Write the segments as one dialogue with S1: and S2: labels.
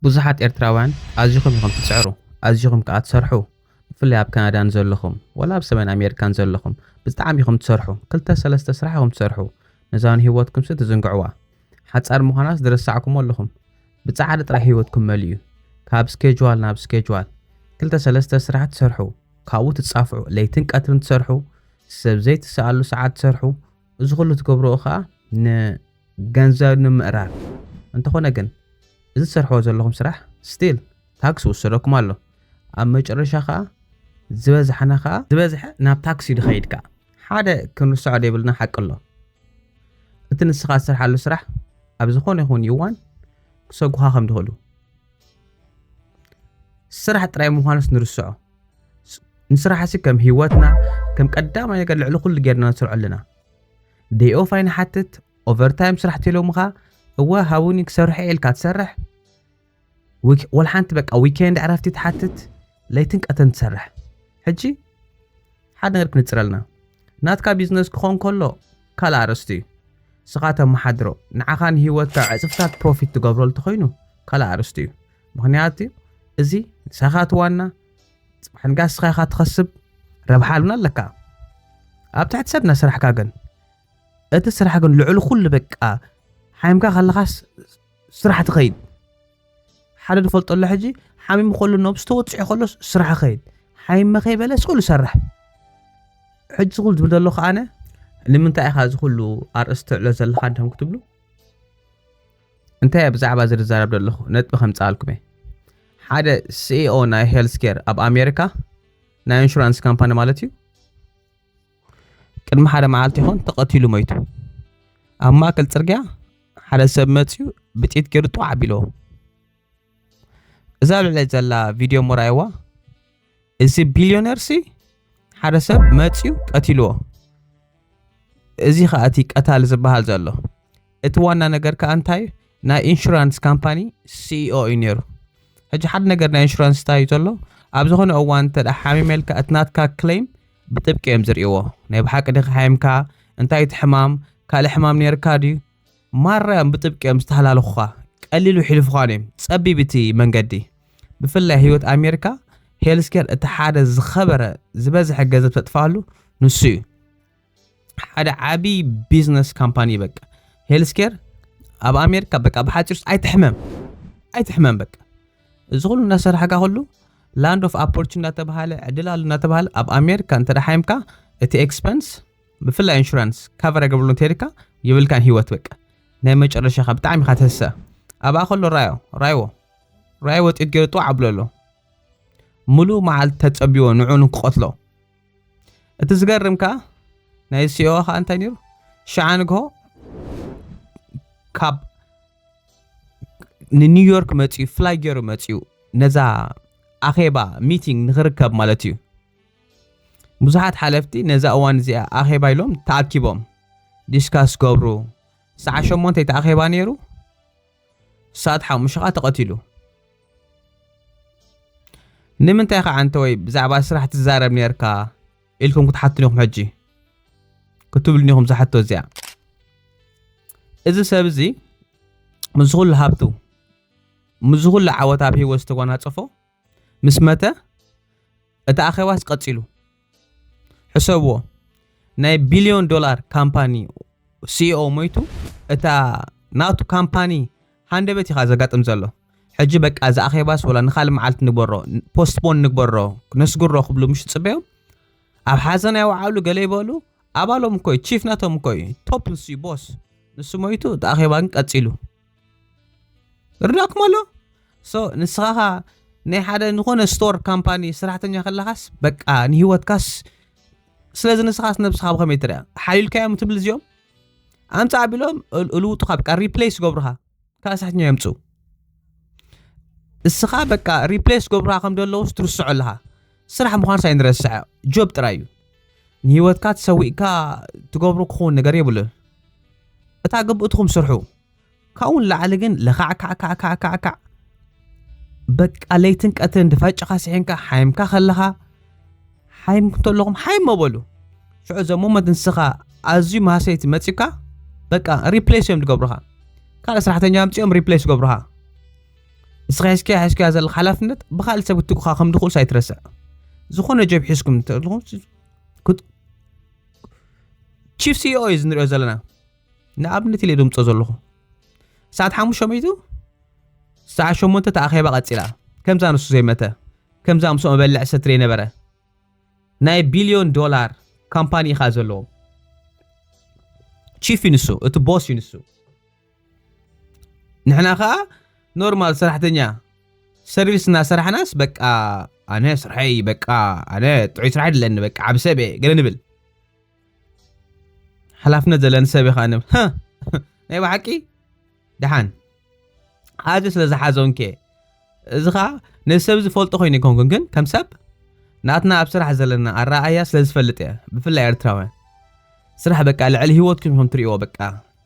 S1: ብዙሓት ኤርትራውያን ኣዚኹም ኢኹም ትጽዕሩ ኣዚኹም ከኣ ትሰርሑ ብፍላይ ኣብ ካናዳ ንዘለኹም ወላ ኣብ ሰሜን ኣሜሪካ ንዘለኹም ብዝጣዕሚ ኢኹም ትሰርሑ ክልተ ሰለስተ ስራሕ ኢኹም ትሰርሑ ነዛ ንህይወትኩምሲ ትዝንግዕዋ ሓጻር ምዃናስ ዝረሳዕኩሞ ኣለኹም ብጻዕሪ ጥራይ ህይወትኩም መሊኡ ካብ ስኬጅዋል ናብ ስኬጅዋል ክልተ ሰለስተ ስራሕ ትሰርሑ ካብኡ ትጻፍዑ ለይትን ቀትርን ትሰርሑ ሰብ ዘይትስኣሉ ሰዓት ትሰርሑ እዚ ኩሉ ትገብርኦ ከኣ ን ገንዘብ ንምእራፍ እንተኾነ ግን እዚ ትሰርሕዎ ዘለኹም ስራሕ ስቲል ታክስ ይውሰደኩም ኣሎ ኣብ መጨረሻ ከኣ ዝበዝሓና ከኣ ዝበዝሐ ናብ ታክስ እዩ ድኸይድ ከኣ ሓደ ክንርሰዖ ደይብልና ሓቂ ኣሎ እቲ ንስኻ ዝሰርሓሉ ስራሕ ኣብ ዝኾነ ይኹን ይዋን ክሰጉኻ ከም ድኽእሉ ስራሕ ጥራይ ምዃኑስ ንርስዖ ንስራሕሲ ከም ሂወትና ከም ቀዳማይ ነገር ልዕሊ ኩሉ ጌርና ንሰርዖ ኣለና ደይ ኦፍ ኣይንሓትት ኦቨር ታይም ስራሕ ተሎምኻ እወ ሃቡኒ ክሰርሖ ኢልካ ትሰርሕ ወልሓንቲ በቃ ዊኬንድ ዕረፍቲ ትሓትት ለይትን ቀተን ትሰርሕ ሕጂ ሓደ ነገር ክንፅረልና ናትካ ቢዝነስ ክኾን ከሎ ካልእ ኣርእስቲ እዩ ስኻ ተመሓድሮ ንዓኻ ንሂወትካ ዕፅፍታት ፕሮፊት ትገብረሉ ተኮይኑ ካልእ ኣርእስቲ እዩ ምክንያቱ እዚ ንሳኻ ትዋና ጽባሕ ንግኣ ንስኻ ኢኻ ትኸስብ ረብሓ ኣሉና ኣለካ ኣብ ትሕቲ ሰብ ናይ ስራሕካ ግን እቲ ስራሕ ግን ልዕሊ ኩሉ በቃ ሓይምካ ከለኻስ ስራሕ ትኸይድ ሓደ ንፈልጦ ኣሎ ሕጂ ሓሚሙ ከሎ ነብሱ ተወፅዑ ከሎ ስራሕ ኸይድ ሓይመ ከይበለ ስእሉ ሰርሕ ሕጂ ዝኹሉ ዝብል ዘሎ ከዓነ ንምንታይ ኢኻ እዚ ኩሉ ኣርእስቲ ትዕሎ ዘለኻ እንዲም ክትብሉ እንታይ እየ ብዛዕባ እዚ ዝዛረብ ዘለኹ? ነጥቢ ከምጽኣልኩም እየ። ሓደ ሲኢኦ ናይ ሄልስ ኬር ኣብ ኣሜሪካ ናይ ኢንሹራንስ ካምፓኒ ማለት እዩ ቅድሚ ሓደ መዓልቲ ይኾን ተቐቲሉ መይቱ ኣብ ማእከል ጽርግያ ሓደ ሰብ መፅዩ ብጢት ገይሩ ጧዕ ኣቢለዎ እዛ ልዕለይ ዘላ ቪድዮ እሞ ረኣይዋ እዚ ቢልዮነር ሲ ሓደ ሰብ መፅዩ ቀቲልዎ እዚ ከዓ እቲ ቀታሊ ዝበሃል ዘሎ እቲ ዋና ነገር ከዓ እንታይ እዩ ናይ ኢንሹራንስ ካምፓኒ ሲኢኦ እዩ ነይሩ ሕጂ ሓደ ነገር ናይ ኢንሹራንስ እንታይ እዩ ዘሎ ኣብ ዝኾነ እዋን እንተ ሓሚመልካ እቲ ናትካ ክለይም ብጥብቂ እዮም ዝርእይዎ ናይ ብሓቂ ድካ ሓይምካ እንታይ እቲ ሕማም ካልእ ሕማም ነርካ ድዩ ማራ'ዮም ብጥብቂ'ዮም ዝተሃላለኹኻ፣ ቀሊሉ ሒልፉኻን'ዩ ጸቢብ እቲ መንገዲ። ብፍላይ ህይወት ኣሜሪካ ሄልስኬር እቲ ሓደ ዝኸበረ ዝበዝሐ ገንዘብ ተጥፍኣሉ ንሱ'ዩ። ሓደ ዓቢ ቢዝነስ ካምፓኒ በቃ ሄልስኬር ኣብ ኣሜሪካ በቃ ብሓጺሩስ ኣይትሕመም ኣይትሕመም በቃ እዚ ኩሉ እናሰራሕካ ኩሉ ላንድ ኦፍ ኣፖርቹን እናተባሃለ ዕድል ኣሉ እናተባሃለ ኣብ ኣሜሪካ እንተ ሓይምካ እቲ ኤክስፐንስ ብፍላይ ኢንሹራንስ ካቨር ኣይገብርሉ እንተይልካ የብልካን ሂወት በቃ ናይ መጨረሻኻ ብጣዕሚ ኢኻ ትህሰ ኣብኣ ከሎ ራዮ ራይዎ ራይ ወጢት ገይሩ ጥዋዕ ኣብሎ ኣሎ ሙሉእ መዓልቲ ተፀቢዎ ንዑ ንክቐትሎ እቲ ዝገርም ከዓ ናይ ሲኦ ከዓ እንታይ ነይሩ ሸዓ ንግሆ ካብ ንኒውዮርክ መፅኡ ፍላይ ገይሩ መፅኡ ነዛ ኣኼባ ሚቲንግ ንክርከብ ማለት እዩ ብዙሓት ሓለፍቲ ነዛ እዋን እዚኣ ኣኼባ ኢሎም ተኣኪቦም ዲስካስ ክገብሩ ሰዓት ሸሞንተ እቲ ኣኼባ ነይሩ ሰዓት ሓሙሽተ ከዓ ተቐቲሉ ንምንታይ ከዓ እንተወይ ብዛዕባ ስራሕ ትዛረብ ነርካ ኢልኩም ክትሓትኑ ኢኹም ሕጂ ክትብሉኒ ኢኹም ዝሓቶ እዚኣ እዚ ሰብ እዚ ምስ ኩሉ ሃብቱ ምስ ኩሉ ዓወት ኣብ ሂወት ዝተጎናፀፎ ምስ መተ እቲ ኣኼባስ ቀጺሉ። ሕሰብዎ ናይ ቢልዮን ዶላር ካምፓኒ ሲኢኦ ሞይቱ እታ ናቱ ካምፓኒ ሃንደበት ኢኻ ዘጋጥም ዘሎ። ሕጂ በቃ እዚ ኣኼባስ ወላ ንኻልእ መዓልቲ ንግበሮ ፖስትፖን ንግበሮ ነስግሮ ክብሉ ምሽ ጽበዮም ኣብ ሓዘን ኣይወዓሉ ገለ ይበሉ ኣባሎም እኮ ቺፍ ናቶም እኮ ቶፕ ንሱ ቦስ ንሱ ሞይቱ እቲ ኣኼባ ግን ቀጺሉ። እርዳእኩም ኣሎ ሶ ንስኻ ኸ ናይ ሓደ ዝኾነ ስቶር ካምፓኒ ሰራሕተኛ ከለኻስ በቃ ንሂወትካስ ስለዚ ንስኻስ ነብስኻ ብኸመይ ትርያ ሓልዩልካዮም ትብል እዚኦም ኣምፃ ኣቢሎም እልውጡኻ በቃ ሪፕሌስ ገብሩኻ ካልእ ሰራሕተኛ የምፅኡ እስኻ በቃ ሪፕሌስ ገብሩኻ ከም ዘለውስ ትርስዖ ኣለኻ ስራሕ ምዃንስ ኣይንረስዐ ጆብ ጥራይ እዩ ንህይወትካ ተሰዊእካ ትገብሮ ክኸውን ነገር የብሉን እታ ግብእትኹም ስርሑ ካብኡ ንላዕሊ ግን ለካዕካዕካዕካዕካዕ በቃ ለይትን ቀትርን ድፈጭኻ ስሒንካ ሓይምካ ከለኻ ሓይም እንተለኹም ሓይም መበሉ ሽዑ ዘ ሞመንት ንስኻ ኣዝዩ ማሰይቲ መፂካ በቃ ሪፕሌስ እዮም ዝገብሩኻ ካልእ ሰራሕተኛ ኣምፂኦም ሪፕሌስ ገብሩኻ ንስኻ ሒዝካዮ ሒዝካዮ ዘለካ ሓላፍነት ብካልእ ሰብ ክትኩኻ ከም ድኽእልስ ኣይትረስዕ ዝኾነ ጀብ ሒዝኩም ተለኹም ቺፍ ሲኦ እዩ ዝንሪኦ ዘለና ንኣብነት ኢለ ድምፆ ዘለኹ ሰዓት ሓሙሽተ መይቱ ሰዓት ሸሞንተ ተኣኼባ ቀፂላ ከምዛ ንሱ ዘይመተ ከምዛ ምስኦ መበልዕ ሰትሪ የነበረ ናይ ቢልዮን ዶላር ካምፓኒ ኢኻ ዘለዎ ቺፍ እዩ ንሱ እቲ ቦስ እዩ ንሱ ንሕና ከኣ ኖርማል ሰራሕተኛ ሰርቪስ እናሰራሕናስ በቃ ኣነ ስርሐይ በቃ ኣነ ጥዑይ ስራሕ ድለኒ በቃ ዓብ ሰብ እየ ገለ ንብል ሓላፍነት ዘለን ሰብ ኢኻ ንብ ናይ ባሓቂ ደሓን ኣዚ ስለ ዝሓዞን ከ እዚ ኸዓ ነዚ ሰብ ዝፈልጦ ኮይኑ ይኮንኩን ግን ከም ሰብ ናትና ኣብ ስራሕ ዘለና ኣረኣያ ስለ ዝፈልጥ እየ ብፍላይ ኤርትራውያን ስራሕ በቃ ልዕሊ ሂወትኩም ኢኹም ትርእይዎ በቃ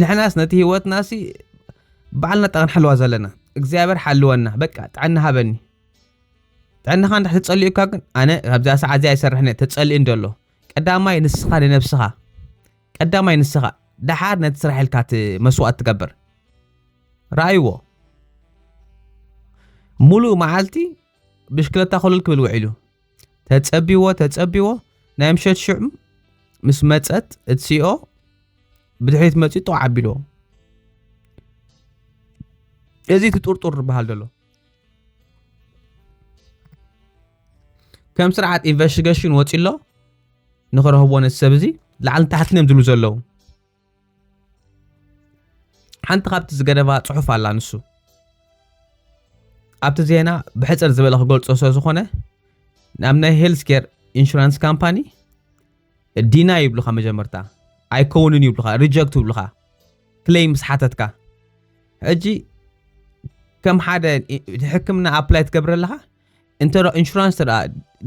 S1: ንሕናስ ነቲ ህይወትና ሲ ባዕልና ጠቕን ሓልዋ ዘለና እግዚኣብሔር ሓልወና በቃ ጥዕና ሃበኒ ጥዕናኻ እንዳ ተጸልዩ እኳ ግን ኣነ ካብዛ ሰዓት እዚኣ ይሰርሕኒ ተጸልዩ እንደሎ ቀዳማይ ንስኻ ንነብስኻ ቀዳማይ ንስኻ ደሓር ነቲ ስራሕ ኢልካ እቲ መስዋእት ትገብር ረኣይዎ ሙሉእ መዓልቲ ብሽክለታ ኮለል ክብል ውዒሉ ተጸቢዎ ተጸቢዎ ናይ ምሸት ሽዑ ምስ መጸት እትሲኦ ብድሕሪት መጺኡ ጥቕ ዓቢልዎ እዚ እቲ ጥርጡር ዝበሃል ዘሎ ከም ስርዓት ኢንቨስቲገሽን ወፂ ኣሎ ንክረህቦ ነቲ ሰብ እዚ ላዕልን ታሕትን እዮም ዝብሉ ዘለዉ ሓንቲ ካብቲ ዝገደባ ጽሑፍ ኣላ ንሱ ኣብቲ ዜና ብሕፅር ዝበለ ክገልፆ ስለ ዝኾነ ናብ ናይ ሄልስ ኬር ኢንሹራንስ ካምፓኒ ዲና ይብሉኻ መጀመርታ ኣይከውንን ይብሉኻ ሪጀክት ይብሉኻ ክለይ ምስ ሓተትካ ሕጂ ከም ሓደ ሕክምና ኣፕላይ ትገብረ ኣለኻ እንተ ኢንሹራንስ እንተ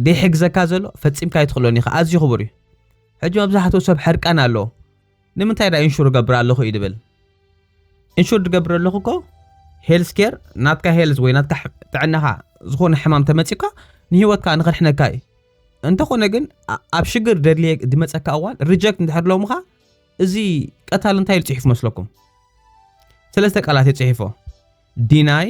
S1: ዘይሕግዘካ ዘሎ ፈፂምካ ኣይትኽእሎን ኢኻ ኣዝዩ ክቡር እዩ ሕጂ መብዛሕትኡ ሰብ ሕርቃን ኣለዎ ንምንታይ ዳ ኢንሹር ገብር ኣለኹ እዩ ድብል ኢንሹር ድገብር ኣለኹ እኮ ሄልስ ኬር ናትካ ሄልዝ ወይ ናትካ ጥዕናኻ ዝኾነ ሕማም ተመፂካ ንሂወትካ ንኽድሕነካ እዩ እንተኾነ ግን ኣብ ሽግር ደድልየ ድመፀካ እዋን ሪጀክት እንድሕር ሎምኻ እዚ ቀታል እንታይ ኢሉ ፅሒፉ መስለኩም ሰለስተ ቃላት እዩ ፅሒፎ ዲናይ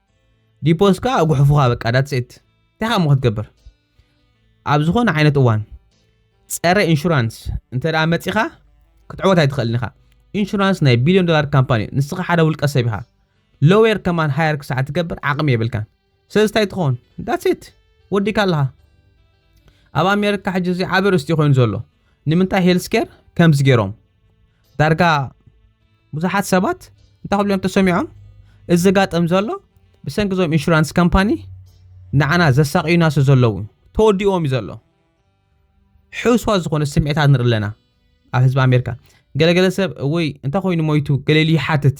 S1: ዲፖዝካ ኣጉሕፉኻ በቃ ዳትስ ኢት እንታይ ካሞ ክትገብር ኣብ ዝኾነ ዓይነት እዋን ፀረ ኢንሹራንስ እንተ መፂኻ ክትዕወት ኣይትኽእልን ኢኻ ኢንሹራንስ ናይ ቢልዮን ዶላር ካምፓኒ እዩ ንስኻ ሓደ ውልቀ ሰብ ኢኻ ሎዌር ከማን ሃየር ክሳዕ ትገብር ዓቕሚ የብልካን ስለዚ እንታይ ትኸውን ዳትስ ኢት ወዲካ ኣለኻ ኣብ ኣሜሪካ ሕጂ እዚ ዓበ ርስቲ ኮይኑ ዘሎ ንምንታይ ሄልስኬር ከምዚ ገይሮም ዳርጋ ብዙሓት ሰባት እንታይ ክብሉ እዮም ተሰሚዖም እዚ ዘጋጥም ዘሎ ብሰንኪ እዞም ኢንሹራንስ ካምፓኒ ንዓና ዘሳቅዩና ስለ ዘለዉ ተወዲእዎም እዩ ዘሎ ሕውስዋ ዝኾነ ስምዒታት ንርኢ ኣለና ኣብ ህዝቢ ኣሜሪካ ገለገለ ሰብ ወይ እንታይ ኮይኑ ሞይቱ ገሌሉ ይሓትት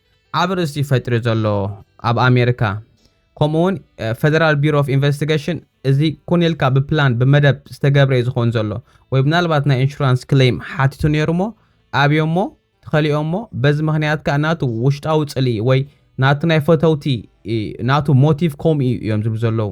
S1: ኣብ ርእሲ ፈጥሪ ዘሎ ኣብ ኣሜሪካ ከምኡ ውን ፈደራል ቢሮ ኦፍ ኢንቨስቲገሽን እዚ ኩን ኢልካ ብፕላን ብመደብ ዝተገብረ እዩ ዝኸውን ዘሎ ወይ ምናልባት ናይ ኢንሹራንስ ክሌም ሓቲቱ ነይሩ ሞ ኣብዮ ሞ ተኸሊኦ ሞ በዚ ምክንያት ከዓ ናቱ ውሽጣዊ ፅልኢ ወይ ናቱ ናይ ፈተውቲ ናቱ ሞቲቭ ከምኡ እዩ እዮም ዝብሉ ዘለዉ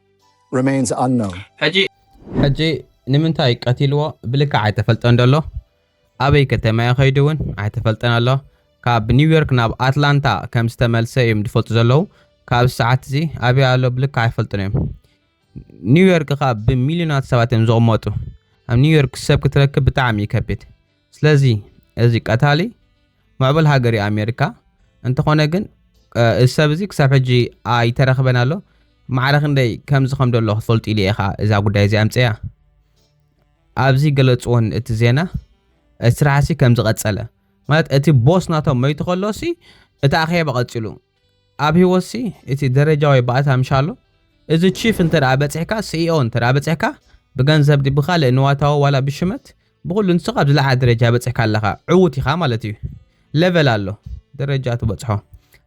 S2: ሕጂ
S1: ንምንታይ ቀቲልዎ ብልክዕ ኣይተፈልጠን ዘሎ፣ ኣበይ ከተማ'ዩ ከይዱ ውን ኣይተፈልጠን ኣሎ፣ ካብ ኒውዮርክ ናብ ኣትላንታ ከም ዝተመልሰ እዮም ዝፈልጡ ዘለዉ፣ ካብዚ ሰዓት'ዚ ኣበይ ኣሎ ብልክዕ ኣይፈልጡን እዮም፣ ኒውዮርክ ከኣ ብሚልዮናት ሰባት እዮም ዝቕመጡ፣ ኣብ ኒውዮርክ ሰብ ክትረክብ ብጣዕሚ እዩ ከቢድ። ስለዚ እዚ ቀታሊ ምዕቡል ሃገር እዩ ኣሜሪካ። እንተኾነ ግን እዚ ሰብ እዚ ክሳብ ሕጂ ኣይተረኽበን ኣሎ። ማዕረ ክንደይ ከምዚ ከም ደሎ ክትፈልጡ ኢለ ኢኻ እዛ ጉዳይ እዚ ኣምፅያ ኣብዚ ገለፅዎን እቲ ዜና እቲ ስራሕሲ ከም ዝቐፀለ ማለት እቲ ቦስ ናቶም መይቱ ከሎሲ እቲ ኣኼባ ቀፂሉ ኣብ ህይወት ሲ እቲ ደረጃ ወይ ባእታ ምሻሎ እዚ ቺፍ እንተ በፂሕካ ሲኢኦ እንተ በፂሕካ ብገንዘብ ዲ ብካልእ ንዋታዊ ዋላ ብሽመት ብኩሉ ንስካ ኣብ ዝለዓለ ደረጃ በፂሕካ ኣለካ ዕውት ኢካ ማለት እዩ ለቨል ኣሎ ደረጃ ትበፅሖ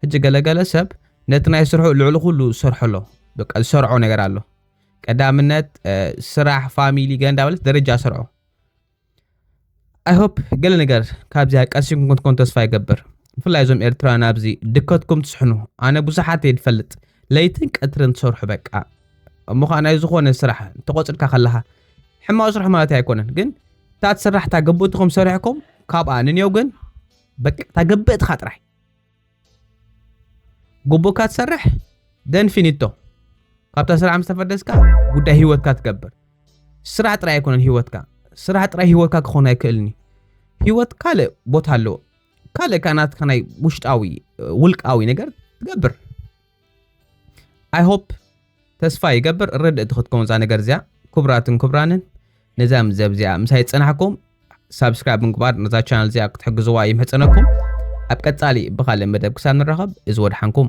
S1: ሕጂ ገለገለ ሰብ ነቲ ናይ ስርሑ ልዕሊ ኩሉ ዝሰርሖ ኣሎ በቃ ዝሰርዖ ነገር ኣሎ ቀዳምነት ስራሕ ፋሚሊ ገንዳ በለት ደረጃ ስርዖ ኣይሆፕ ገለ ነገር ካብዚኣ ቀሲምኩም ክትኮኑ ተስፋ ይገብር ብፍላይ እዞም ኤርትራውያን ኣብዚ ድከትኩም ትስሕኑ ኣነ ብዙሓት እየ ዝፈልጥ ለይትን ቀትርን ትሰርሑ በቃ እሞ ከዓ ናይ ዝኾነ ስራሕ ተቆፅርካ ከለካ ሕማቅ ስራሕ ማለት ኣይኮነን ግን እታ ትስራሕ እታ ግብእትኩም ሰሪሕኩም ካብኣ ንንየው ግን በቃ እታ ግብእትካ ጥራይ ጉቡእካ ትሰርሕ ደን ፊኒቶ ካብታ ስራሕ ምስ ተፈደስካ ጉዳይ ሂወትካ ትገብር ስራሕ ጥራይ ኣይኮነን ሂወትካ ስራሕ ጥራይ ሂወትካ ክኾን ኣይክእልን እዩ ሂወት ካልእ ቦታ ኣለዎ ካልእ ከኣ ናትካ ናይ ውሽጣዊ ውልቃዊ ነገር ትገብር ኣይ ሆፕ ተስፋ ይገብር ርድእቲ ክትከውን እዛ ነገር እዚኣ ክቡራትን ክቡራንን ነዛ ምዘብ እዚኣ ምሳይ ዝፀናሕኩም ሳብስክራይብ ምግባር ነዛ ቻናል እዚኣ ክትሕግዝዋ ይምሕፀነኩም ኣብ ቀፃሊ ብካልእ መደብ ክሳብ ንራኸብ እዚ ወድሓንኩም